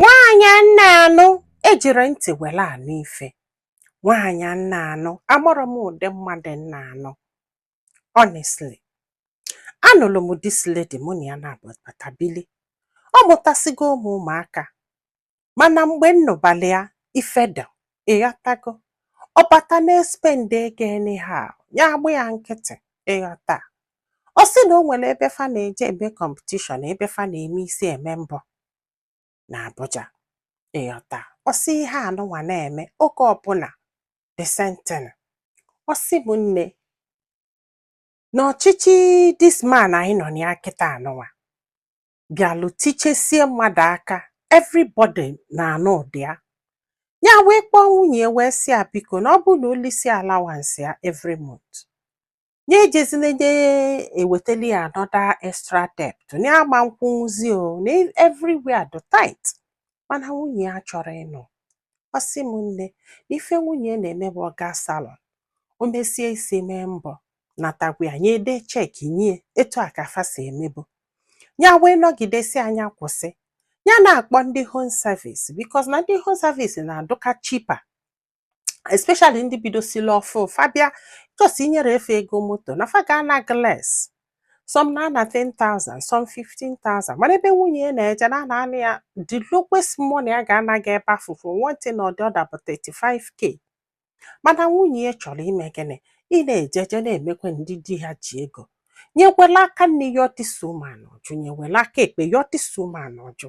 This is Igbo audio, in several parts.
nwaanyị m na-anụ ejirọ ntị were anụ ife nwaanyị m na-anụ amarọ m ụdị mmadụ m na-anụ honestly anụrụ m this lady mụ na ya na-agbata bili ọ mụtasịgo ụmụ ụmụaka mana mgbe m nụbalị ya ife dị ị ghọtago ọ bata na-espend ego anyhow ya agba ya nkịtị ị ghọta ọ sị na o nwere ebe fa na-eje eme competition ebe fa na-eme isi eme mbọ na Abuja ị ghọta ọ sị ihe anụnwa na-eme oge ọbụla the same thing ọ sị m nne na ọchịchị this man anyị nọ na ya kịta anụnwa bịalụ tichesie mmadụ aka everybody na-anụ ụdị ya ya wee kpọọ nwunye ya wee sị ya biko na ọ bụrụ na o lisie allowance ya every month nye ejezina nye ewetali ya another extra debt na ya ama nkwụnwụzi o na everywhere dị tight mana nwunye ya achọrọ ịnụ ọ sị m nne na ife nwunye na-eme bụ ọ gaa salon o mesie isi mee mbọ nata gwa ya nye edee cheque nye etu a ka fa si emebu ya wee nọgide sị ya nya kwụsị ya na-akpọ ndị home service because na ndị home service na-adụka cheaper especially ndị bidosili ọfụụ fa bịa just i nyere fa ego moto na fa ga-ana gị less some na-ana 10,000 some 15,000 mana ebe nwunye ya na-eje na a na-ana ya the lowest money a ga-ana gị ebe afụ for one thing or the other bụ 35k mana nwunye ya chọrọ ime gịnị ị na-eje eje na-eme ka ndị di ha ji ego nyekwela aka nni ya ọtịsa ụmụanụ ọ jụ nyekwela aka ekpe ya ọtịsa ụmụanụ ọ jụ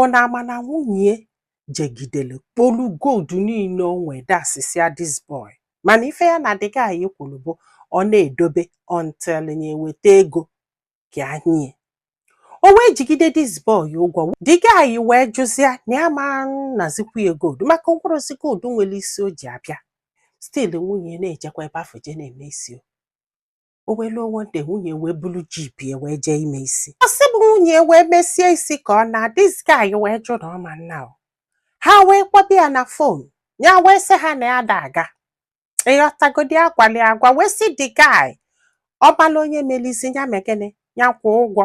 ọ na-ama na nwunye jegidere kpolu gold niile o nwere dasisia this boy mana ife ya na the guy kwuru bụ ọ na-edobe until ya eweta ego ka a nye o wee jigide this boy ụgwọ the guy wee jụzia na ya ma nazikwu ya gold maka o kporosi gold nwere isi o ji abịa still nwunye na-ejekwa ebe afụ je na-eme isi o o wee luo one day nwunye wee bulu jeep ya wee jee ime isi ọ sị m nwunye ya wee mesie isi ka ọ naa this guy wee jụ na ọ ma ana o ha wee kpọba ya na phone ya wee sị ha na ya ada aga ị ghọtago di ya gwali agwa wee sị the guy ọ mala onye meli isi ya mee gịnị ya kwụọ ụgwọ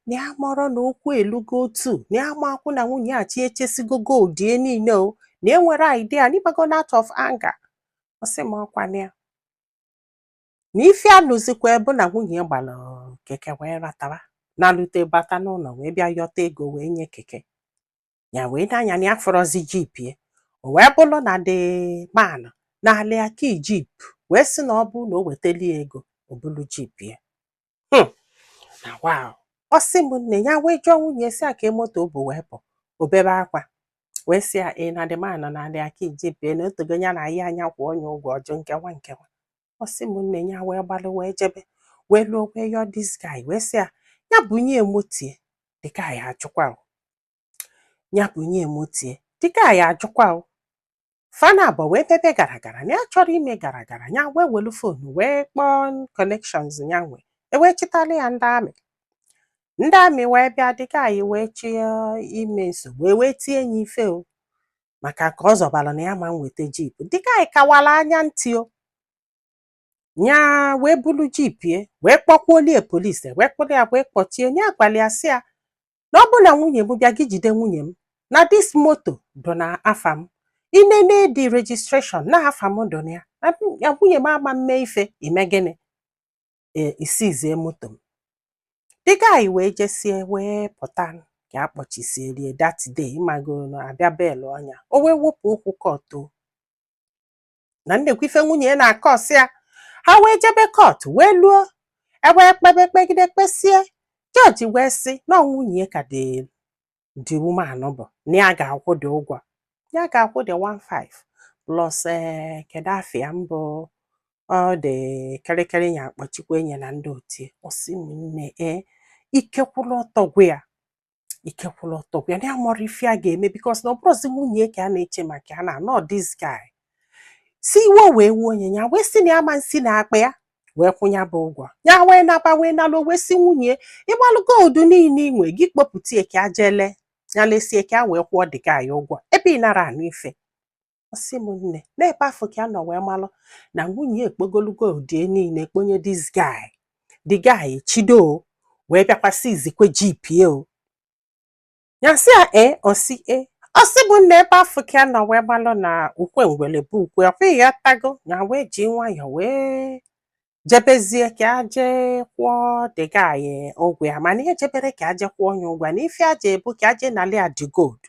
na ya amarọ na okwu elugo otu na ya ma akwụ na nwunye ya achịjesigo gold ya niile o na enwerọ idea na ị mago out of anger ọ sị m ọ kwa na ya na ife alụzikwa bụ na nwunye gbara keke wee natawa nalute bata n'ụlọ wee bịa yọta ego wee nye keke ya wee nee anya na ya afụrọzi jeep ya o wee bụrụ na the man nalị ya key jeep wee sị na ọ bụrụ na o wetali ya ego o bulu jeep ya Hmm. na wa ọ sị m nne ya wee jụọ nwunye sị ya kee moto o bu wee pụ o bebe akwa wee sị ya na the man anali ya key jeep ye na otogo ya na ahịa anya kwụọ nya ụgwọ ọjụ nkewa nkewa ọ sị m nne ya wee gbalụ wee jebe wee luo wee yọọ this guy wee sị ya ya bunye ye moto ye the guy ajụkwa o. ya bunye ye moto ye the guy ajụkwa o fa naabọ wee mebe gara gara na ya chọrọ ime gara gara ya wee welu phone wee kpọọ connections ya nwe e wee chịtala ya ndị army ndị army wee bịa the guy wee chọọ ime nsogbu e wee tie ya ife o maka ka ọ zọbara na ya ma nweta jeep the guy kawala anya ntị o ya wee bulu jeep ye wee kpọkwuolie police wee kpụrụ ya wee kpọchie nya agwala ya sị ya na ọ bụ na nwunye m bịa gị jide nwunye m na this moto dụ na afa m i nene the registration na afa m dụ na ya na m- ya nwunye m ama mme ife i mee gịnị ee i seize moto m the guy wee jesie wee pụta ka a kpọchisielie that day ị mago na a bịa bail-ụọ nya o wee wepụ okwu court o na nnekwu ife nwunye ya na-akọsị ya ha wee jebe court wee luo e wee kpebe kpegide kpesie judge wee sị na nwunye ya ka the the woman nụ bụ na ya ga-akwụ the ụgwọ ya ga-akwụ the 15 plus ee kedu afa ya mbụ ọ dị kịrịkịrị ya akpọchikwa nye na ndị otu ye ọ sị m nne ee ike kwụrụ ọtọ gwụ ya ike kwụrụ ọtọ gwụ ya na ya amarọ ife ya ga-eme because na ọ bụrụzi nwunye ka a na-eche maka ya na anọ this guy sị iwe wee wuo nye ya wee sị na ya ama nsi na akpa ya wee kwụọ nya bụ ụgwọ ya wee naba wee naluo wee sị nwunye ịgbalụ gold niile i nwe gị kpopụta ye ka e je lee ya lesie ka e wee kwụọ the guy ụgwọ ebe ị nara anụ ife ọ sị m nne na ebe afụ ka ya nọ wee malụ na nwunye ekpokolu gold ye niile kponye this guy the guy chido wee bịakwa seizekwe jeep ye o ya sị ya e ọ sị e ọ sị m nne ebe afụ ka ya nọ wee malụ na ukwe ngwele bụ ukwe ọkwa ya tago nya wee ji nwayọ wee jebezie ka aje kwụọ the guy ụgwọ ya mana ihe jebere ka aje kwụọ nya ụgwọ ya na ife aje bụ ka aje nali ya the gold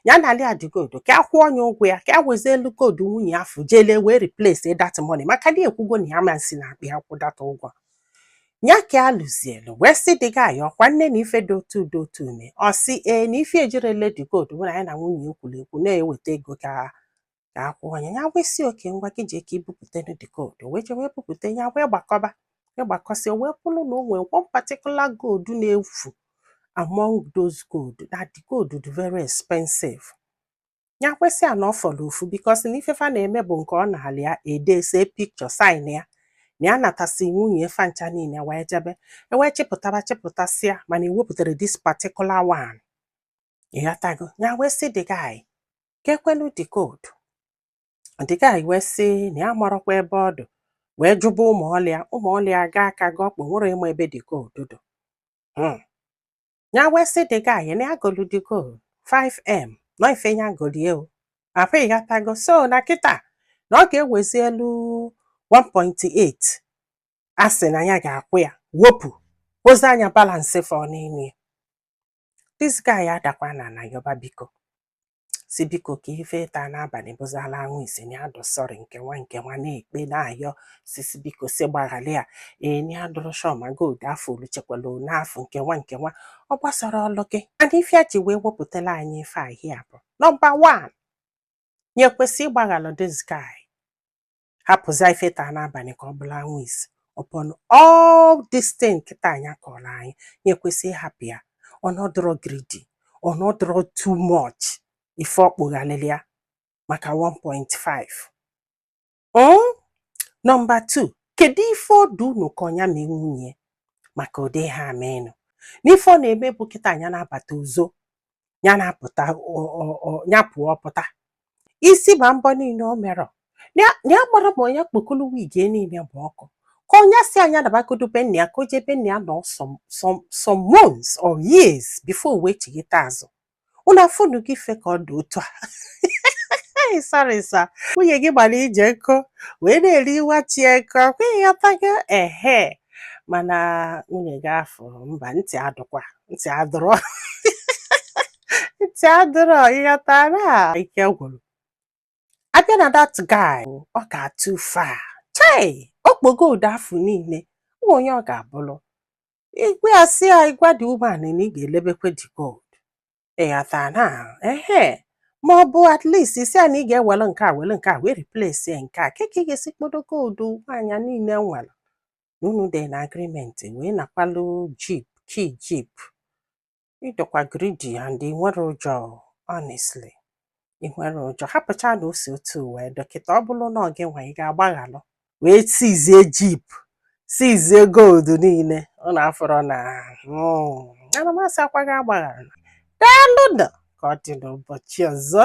ya nali ya the gold ka a kwụọ nya ụgwọ ya ka a wezielu gold nwunye ya afụ je lee wee replace that money maka na ekwugo na ya ama nsi na akpa ya kwụ that ụgwọ ya ka a luzielu wee sị the guy ọkwa nne na ife dị otu dị otu ume ọ sị ee na ife ejirele the gold bụ na ya na nwunye ye kwuru ekwu na e weta ego ka ka a kwụọ ya ya wee sị okay ngwa gị jee ka i bupụtanụ the gold o wee jee wee bupụta ya wee gbakọba wee gbakọsị o wee kwụrụ na o nwere one particular gold na-efu among those gold na the gold dị very expensive ya wee sị ya na ọ fọrọ ofu because na ife fa na-eme bụ nke ọ nalị ya e dee see picture sign ya na ya natasị nwunye fa ncha niile wee jebe ewee chịpụtaba chịpụtasịa mana ewepụtarọ this particular one ịghọtago ya wee sị the guy kekwanụ the gold the guy wee sị na ya marọkwa ebe ọ dụ wee jụba ụmụ ọlụ ya ụmụ ọlụ ya gaa aka gị ọkpụ nwerọ ịma ebe the gold dụ Hmm. ya wee sị the guy na ya golu the gold 5m na ọ ife ya golie o afụ ịghọtago so na kịta na ọ ga-ewezielu 1.8 a sị na ya ga-akwụ ya wepụzia nya balance fọ n'ime ya This guy adakwa n'ana yọba biko sị biko ka ife taa n'abalị bụzịlụ anwụ isi na ya dụ sorry nke nwa nke nwa na-ekpe na-ayọ sị sị biko sị gbaghalụ ya ee na ya adụrọ sure ma gold afụ o luchakwala ọnụ afụ nke nwa nke nwa ọ gbasara ọlụ gị and ife ya ji wee wepụtala anyị ife ahị a bụ number one nya kwesị ịgbaghalụ this guy hapụzia ife taa n'abalị ka ọ bụlụ anwụ isi upon all this thing kịta nya kọọrọ anyị nya kwesị ịhapụ ya ọ na ọ dụrọ greedy ọ na ọ dụrọ too much ife ọ kpụghalịrị ya maka 1.5 mm? number 2 kedu ife ọ dụ unu ka ọ nya mee nwunye ya maka ụdị ha ameenụ n'ife ọ na-eme bụ kịta nya na-abata uzo ya na-apụta ọ- ọ- ọ- ya pụọ pụta isi ma mbọ niile o merọ na ya na ya gbara ma nya kpokolo wig ya niile bụ ọkụ ka ọ nya sị ya nya nabagodu be nna ya ka o jee be nna ya nọ some some some months or years before o wee chighata azụ unu afụnụ gị ife ka ọ dị otu a Hey, sorry sir nwunye gị gbara ije nkụ wee na-eri nwa chi nkụ ọkwa ịghọtago ehe mana nwunye gị afụ mba ntị adụkwa ntị adụrọ ntị adụrọ ịghọtara ike gwụrụ abịa na that guy ọ gara too far chai o kpo gold afụ niile ụmụ onye ọ ga-abụrụ ị gwa ya sị ya ị gwa the woman na ị ga-elebekwa the gold ịghọtara ehe ma ọ bụ at least ị sị ya na ị ga-ewere nke a were nke a wee replace nke a kee ka ị ga-esi kpodo gold nwaanyị niile nwere na unu dị na agreement wee nakwalụ jeep ki jeep ị dụkwa greedy and ị nwerọ joy honestly ị nwerọ joy hapụcha na o si otu wee dụ kịta ọ bụrụ na ọ gị nwa ị ga-agbaghalụ wee seizie jeep seizie gold niile ọ na-afọrọ na hmm, ana m asị ọkwa ị ga-agbaghalụ daalụ ka ọ dị n'ụbọchị ọzọ